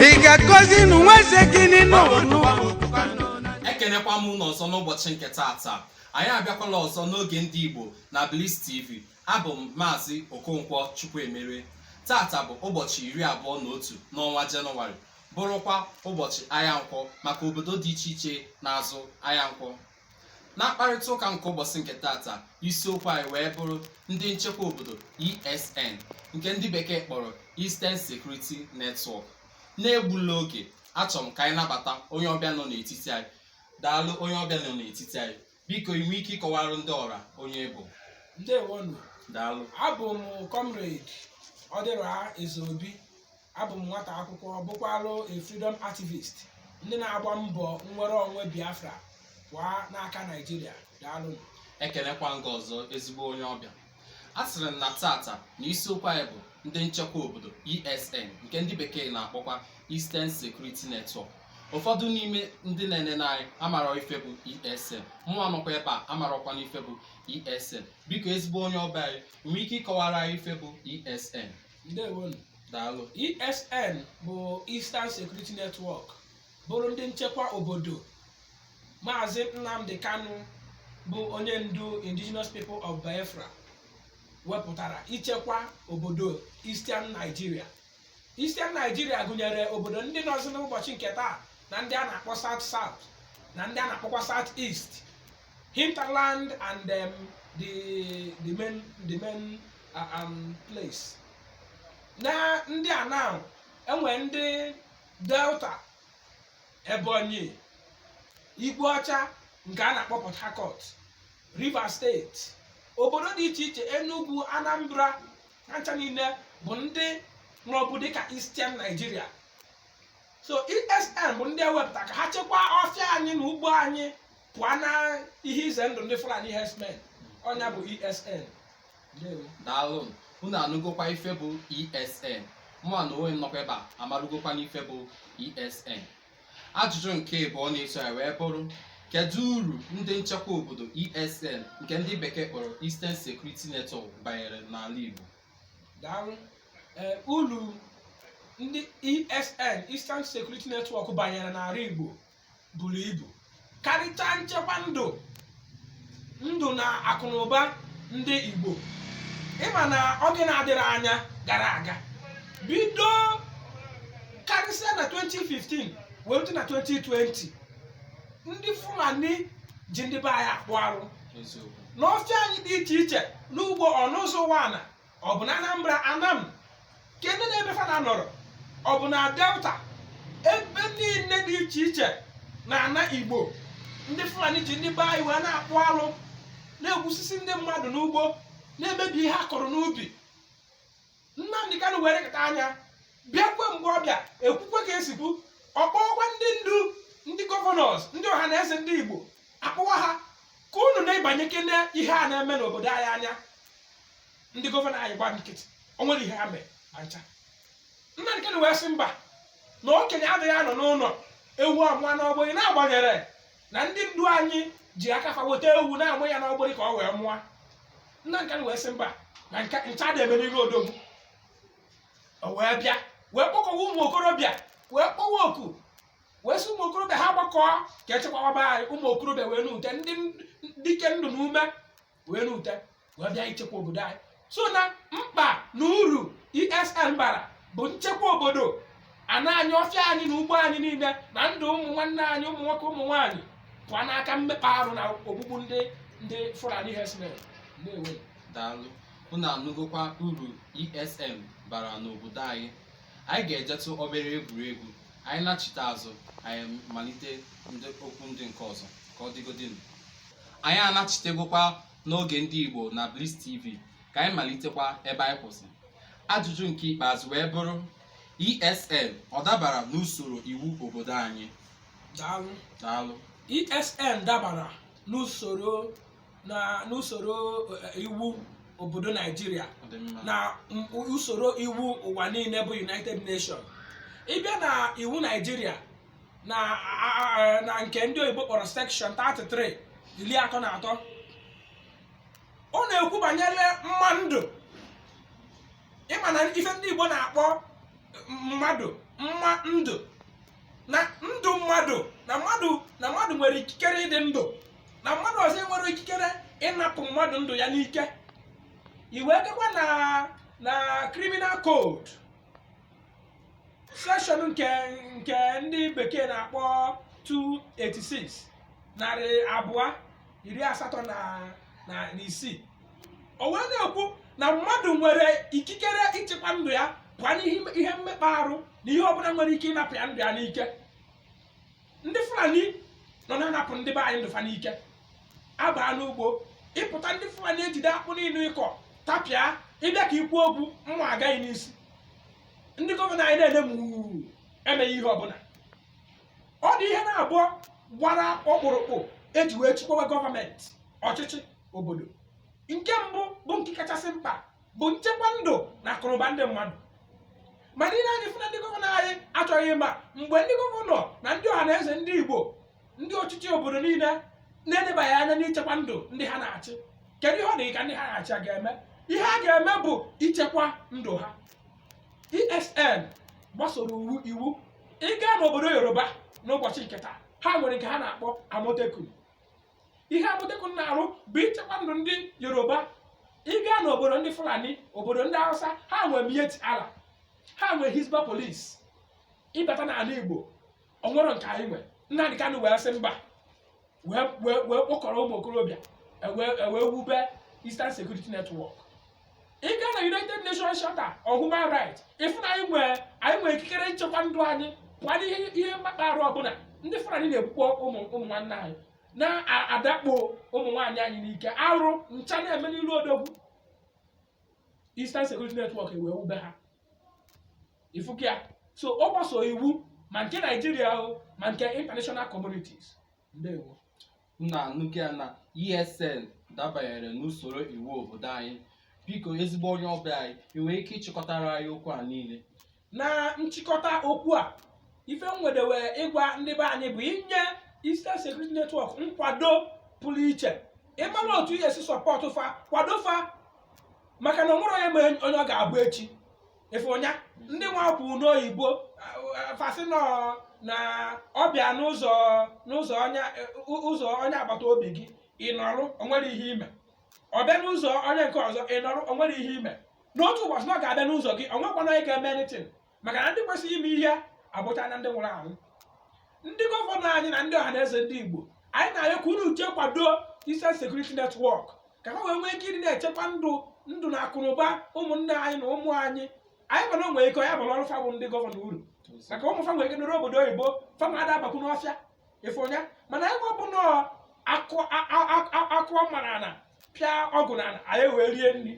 ị ga-akọzi nụ nwa eze gị n'ịnụ ekenekwa m unu ọzọ n'ụbọchị nke taata anyị abịakwala ọzọ n'oge ndị igbo na Bliss TV abụ m maazị okonkwo chukwuemere taata bụ ụbọchị iri abụọ na otu n'ọnwa jenụwarị bụrụkwa ụbọchị ahịa nkwọ maka obodo dị iche iche na-azụ ahịa nkwọ na mkparịta ụka nke ụbọchị nke taata isiokwu anyị wee bụrụ ndị nchekwa obodo ESN nke ndị bekee kpọrọ Eastern Security Network na-egbula oge achọrọ m ka anyị nabata onye ọbịa nọ n'etiti anyị daalụ onye ọbịa nọ n'etiti anyị biko i nwe ike ịkọwara ndị ọra onye ị bụ ndewonu daalụ abụ m comrade ọdịra ezeobi abụ m nwata akwụkwọ bụkwalụ a freedom activist ndị na-agba mbọ nnwere onwe biafra pụọ n'aka naijiria daalụ ekenekwa m gị ọzọ ezigbo onye ọbịa asịrị m na taata na isiokwu anyị bụ ndị nchekwa obodo ESN nke ndị bekee na-akpọkwa Eastern Security Network ụfọdụ n'ime ndị na-enene anyị amara ife bụ ESN mụwa nọkwa ebe a amarakwa m ife bụ ESN biko ezigbo onye ọbịa anyị i nwee ike ịkọwara anyị ife bụ ESN ndewonu daalụ ESN bụ Eastern Security Network bụrụ ndị nchekwa obodo Maazị Nnamdi Kanu bụ onye ndu Indigenous People of Biafra wepụtara ichekwa obodo Eastern Nigeria Eastern Nigeria gụnyere obodo ndị nọzi n'ụbọchị nke taa na ndị a na-akpọ South South na ndị a na-akpọkwa South East hinterland and um, the the main the main uh, um, place na ndị a now e nwere ndị delta ebonyi igwe ọcha nke a na-akpọ port harcourt rivers state obodo dị iche iche enugu anambra ha ncha niile bụ ndị nọbu dịka eastern nigeria so esn bụ ndị e wepụta ka ha chekwaa ọfịa anyị na ugbo anyị pụọ na ihe ize ndụ ndị fulani herdsmen ọ nya bụ esn ndewo daalụ unu anụgokwa ife bụ esn mụ na onwe m nọkwa ebe a amarụgokwa m ife bụ esn ajụjụ nke ịbụọ na-eso ya wee bụrụ kedu uru ndị nchekwa obodo esn nke ndị bekee kpọrọ eastern security network banyere n'ala igbo daalụ ee ulu ndị esn eastern security network banyere n'ala igbo buru ibu karịchaa nchekwa ndụ ndụ na akụnụba ndị Igbo ị ma na oge na-adịrị anya gara aga bido karịsịa na 2015 wee rute na 2020 ndị Fulani ji ndị be anyị akpụ arụ n'ọfịa anyị dị iche iche n'ugbo ọ n'Ụzọ Ụwanị ọ bụ na anambra anam nke ndị n'ebe fa na-anọrọ ọ bụ na delta ebe niile dị iche iche na ana igbo ndị fulani ji ndị be anyị wee na-akpụ alụ na-egbusisi ndị mmadụ n'ugbo na-emebi ihe a kọrọ n'ubi nnamdi kanu wee lekata anya bịakwe mgbe ọ bịa ekwukwe ka e si kwu ọ kpọọkwa ndị ndu ndị gọvanọs ndị ọhanaeze ndị igbo akpọwa ha ka unu nebanyekene ihe a na-eme n'obodo anyị anya ndị gọvanọ anyị gba nkịtị o nwerọ ihe ha mere ma ncha nnamdi kanu wee sị mba na okenye adịghị anọ n'ụlọ ewu amụa n'ọgbụrị na-agbanyerọ na ndị ndu anyị ji aka fa weta ewu na-amụ ya n'ọgbụrị ka ọ wee mụọ nnamdi kanu wee sị mba na nka ncha dị eme n'iru odogwu o wee bịa wee kpọkọwa ụmụ okorobịa wee kpọwa oku wee sị ụmụ okorobịa ha gbakọọ ka e chekwawa be anyị ụmụ okorobịa wee rute ndị dike ndụ na ume wee rute wee bịa ichekwa obodo anyị so na mkpa na uru esn bara bụ nchekwa obodo ana anyị ọfịa anyị na ugbo anyị niile na ndụ ụmụ nwanne anyị ụmụ nwoke ụmụ nwaanyị pụọ n'aka mmekpa arụ na ogbugbu ndị ndị fulani herdsmen na-enwe daalụ unu anụgokwa uru esn bara n'obodo anyị anyị ga-ejetụ obere egwuregwu anyị nachite azụ anyị malite ndị okwu ndị nke ọzọ ka ọ dịgodịnụ anyị anachitegokwa n'oge ndị Igbo na Bliss TV ka anyị malitekwa ebe anyị kwụsị ajụjụ nke ikpeazụ wee bụrụ ESN ọ dabara n'usoro iwu obodo anyị daalụ daalụ ESN dabara n'usoro na n'usoro eh, iwu obodo Naijiria ọ dị mma na m- usoro iwu ụwa niile bụ United Nations ị bịa na iwu Naijiria na a- a- a- na nke ndị oyibo kpọrọ section 33 iri atọ na atọ ọ na-ekwu banyere mma ndụ ị ma na ife ndị igbo na-akpọ mmadụ mma ndụ na ndụ mmadụ na mmadụ na mmadụ nwere ikikere ịdị ndụ na mmadụ ọzọ enwerọ ikikere ịnapụ mmadụ ndụ ya n'ike i wee jekwa na na criminal code section nke nke ndị bekee na-akpọ 286 narị abụọ iri asatọ na na na isii o wee na-ekwu na mmadụ nwere ikikere ichekwa ndụ ya pụọ n'ihe ihe mmekpa arụ na ihe ọbụla nwere ike ịnapụ ya ndụ ya n'ike ndị fulani nọ na-anapụ ndị be anyị ndụ fa n'ike a baa n'ugbo ị pụta ndị fulani ejide akpụ niile ị kọ tapịa ị bịa ka i kwuo okwu mma agaa gị n'isi ndị gọvanọ anyị na-ene m emeghị ihe ọbụla ọ dị ihe naabọ gbara ọkpụrụkpụ e ji wee chịkwawa gọọmenti ọchịchị obodo nke mbụ bụ nke kachasị mkpa bụ nchekwa ndụ na akụnụba ndị mmadụ mana ihe anyị fụ na ndị gọvanọ anyị achọghị ịma mgbe ndị gọvanọ na ndị ọha na eze ndị igbo ndị ọchịchị obodo niile na-edebaghị anya n'ichekwa ndụ ndị ha na-achị kedu ihe ọ dị ka ndị ha na-achị ga-eme ihe a ga-eme bụ ichekwa ndụ ha esn gbasoro iwu iwu ị gaa n'obodo yoruba n'ụbọchị nke taa ha nwere nke ha na-akpọ amotekun ihe Amotekun na-arụ bụ ichekwa ndụ ndị Yoruba ị gaa n'obodo ndị Fulani obodo ndị Hausa ha nwe Miyetti Allah ha nwe Hisbah police ị bata n'ala Igbo o nwerọ nke anyị nwe Nnamdi Kanu wee sị mba wee kpọkọrọ ụmụ okorobịa wee wube Eastern Security Network ị gaa na united nations charter of human rights ị fụ na anyị nwe ikikere nchekwa ndụ anyị pụọ n'ihe mmekpa arụ ọbụla ndị fulani na-egbukpọ ụmụ nwanne anyị na-adakpo ụmụ nwaanyị anyị n'ike arụ ncha na-eme n'ilu odogwu eastern security network e wee wube ha ị fụkwa ya so ọ gbaso iwu ma nke nigeria ma nke international communities ndewo unu anụgo ya na ESN dabanyere n'usoro iwu obodo anyị biko ezigbo onye ọbịa anyị ị nwere ike ịchịkọtara anyị okwu a niile na nchịkọta okwu a ife m nwedebe ịgwa ndị be anyị bụ inye Eastern Security Network nkwado pụrụ iche ịmara otu e si sọpọtụ fa kwado fa maka na o nwerọ onye ma onye ọ ga-abụ echi ife onye ndị nwa kwu n'oyibo fa sị na ọ bịa n'ụzọ onye agbata obi gị ị nọrọ o nwerọ ihe i me ọ bịa n'ụzọ onye nke ọzọ ị nọrọ o nwerọ ihe i me n'otu ụbọchị na ọ ga-abịa n'ụzọ gị o nwekwana onye ga-eme anything maka na ndị kwesịrị ime ihe abụchana ndị nwụrụ anwụ ndị gọvanọ anyị na ndị ọhaneze ndị Igbo anyị na-arịọ ka unu uche kwado Eastern Security Network ka ha wee nwee ike ịdị na-echekwa ndụ na akụnụba ụmụnne anyị na ụmụ anyị anyị ma na o nwe ike ya abarọrọ fa bụ ndị gọvanọ uru maka ụmụ fa nwere ike nọrọ obodo oyibo fa ma ada abakwu n'ọfịa ife onye mana anyị nwa bụ na a kụọ mma n'ana pịa ọgụ n'ana anyị wee rie nri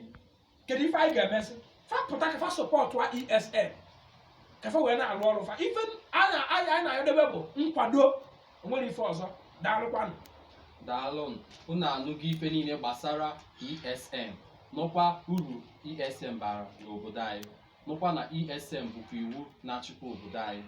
kedu ife anyị ga-eme sị fa pụta ka fa sọpọtụ ESN ka fa wee na-arụ ọrụ fa ife anyị na-ayọdebe bụ nkwado o nwerọ ife ọzọ daalụkwanụ daalụ unu anụgo ife niile gbasara ESN nụkwa uru ESN bara n'obodo anyị nụkwa na ESN bụkwa iwu na-achịkwa obodo anyị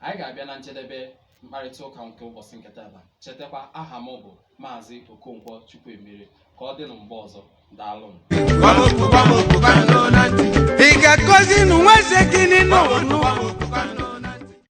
anyị ga-abịa na njedebe mkparịta ụka nke ụbọchị nke tata chetakwa aha m bụ maazị okonkwo chukwuemere ka ọ dị na mgbe ọzọ daalụnụ Gbamoku, gbamoku, gbanụ na ntị. Ị ga-akọzi nụ nwa eze gị n'ọnụ. Gbamoku, gbamoku, gbanụ